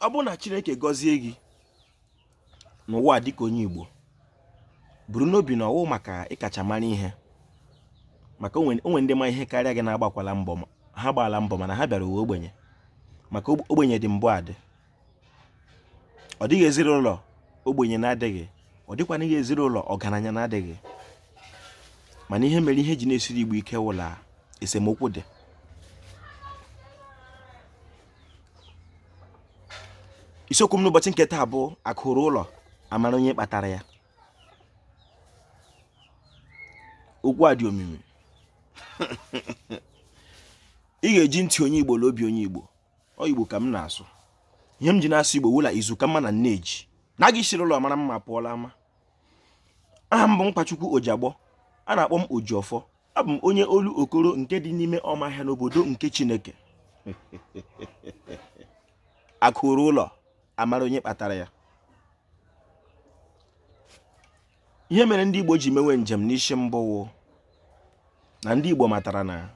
ọ bụrụ na chineke gọzie gị n'ụwa dịka onye igbo buru n'obi na ọ wụ maka ị kacha mara ihe maka o nwe ndị ma ihe karịa gị na-agbakwala mbọ ha gbaala mbọ mana ha bịara ụwa ogbenye maka ogbenye dị mbụ adị ọ dịghị ezinụlọ ogbenye na-adịghị ọ dịkwanụghị ezinụlọ ọgaranya na-adịghị mana ihe mere ihe ji na-esiri igbo ike wụ la esemokwu dị isiokwu m n'ụbọchị nke taa bụ akụ ruo ụlọ amara onye kpatara ya okwu a dị omimi ị ga-eji ntị onye igbo na obi onye igbo ọ igbo ka m na-asụ ihe m ji na-asụ igbo wụ la izu ka mma na nne ji na a ga-esiri ụlọ mara mma pụọ la ama aha m bụ nkwachukwu ojiagbọ a na-akpọ m ojiọfọ abụ m onye olokoro nke dị n'ime ọmahịa n'obodo nke chineke akụ ruo ụlọ amara onye kpatara ya ihe mere ndị igbo ji mewe njem n'isi mbụ wụ na ndị igbo matara na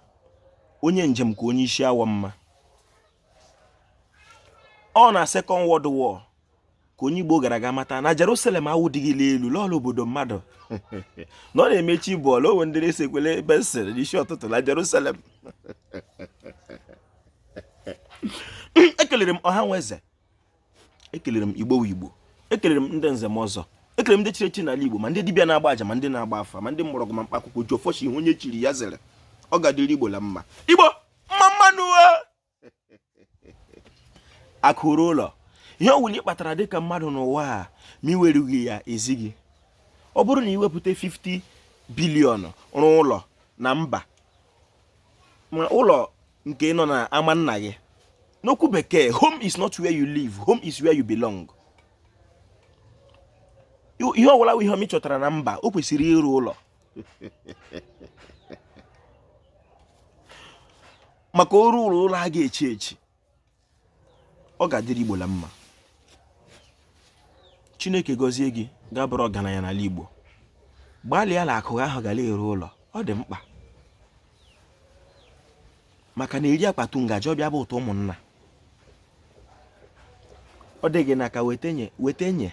onye njem ka onye isi awọ mma ọ na second world war ka onye Igbo gara agha mata na Jerusalem awụdịghị la elu la ọ wụ obodo mmadụ na ọ na-eme chi bọọ la o nwe ndị na-esekwele ebe sịrị n'isi ụtụtụ na Jerusalem ekelere m ọha na eze ekelere m igbo igbo ekelere m ndị nze na ọzọ ekelere m ndị chiri echi n'ala igbo ma ndị dibịa na-agba aja ma ndị na-agba afa ma ndị mgbọrọgwụ ma mkpa akwụkwọ ji ọfọ chi ihe onye chiri ya zere ọ ga-adịrị igbo la mma igbo mma mma nụ akụ ruo ụlọ ihe ọwụla ị kpatara dịka mmadụ n'ụwa a ma i werughị ya ezi gị ọ bụrụ na i wepụta 50 biliọnụ rụọ ụlọ na mba ma ụlọ nke nọ na ama nna gị n'okwu bekee home is not where you live home is where you belong ihe ọwụla wụ ihe ọma ị chọtara na mba o kwesịrị iru ụlọ maka o ruo ụlọ a ga-echi echi ọ ga-adịrị Igbo la mma Chineke gọzie gị gị abụrụ ọgaranya n'ala Igbo gbalịa la akụ ahụ ga la-eru ụlọ ọ dị mkpa maka na e rie a kpatụ ngaji ọ bụ ya bụ ụtọ ụmụnna ọ dị gị n'aka weta nye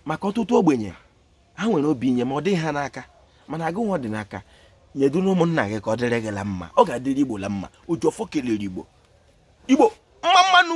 maka ọtụtụ ogbenye ha nwere obi inye ma ọ dịghị ha n'aka mana gị nwa ọ dị n'aka nyetụnụ ụmụnna gị ka ọ dịrị gị la mma ọ ga-adịrị igbo la mma ojiọfọ kelere igbo igbo mma mma nụ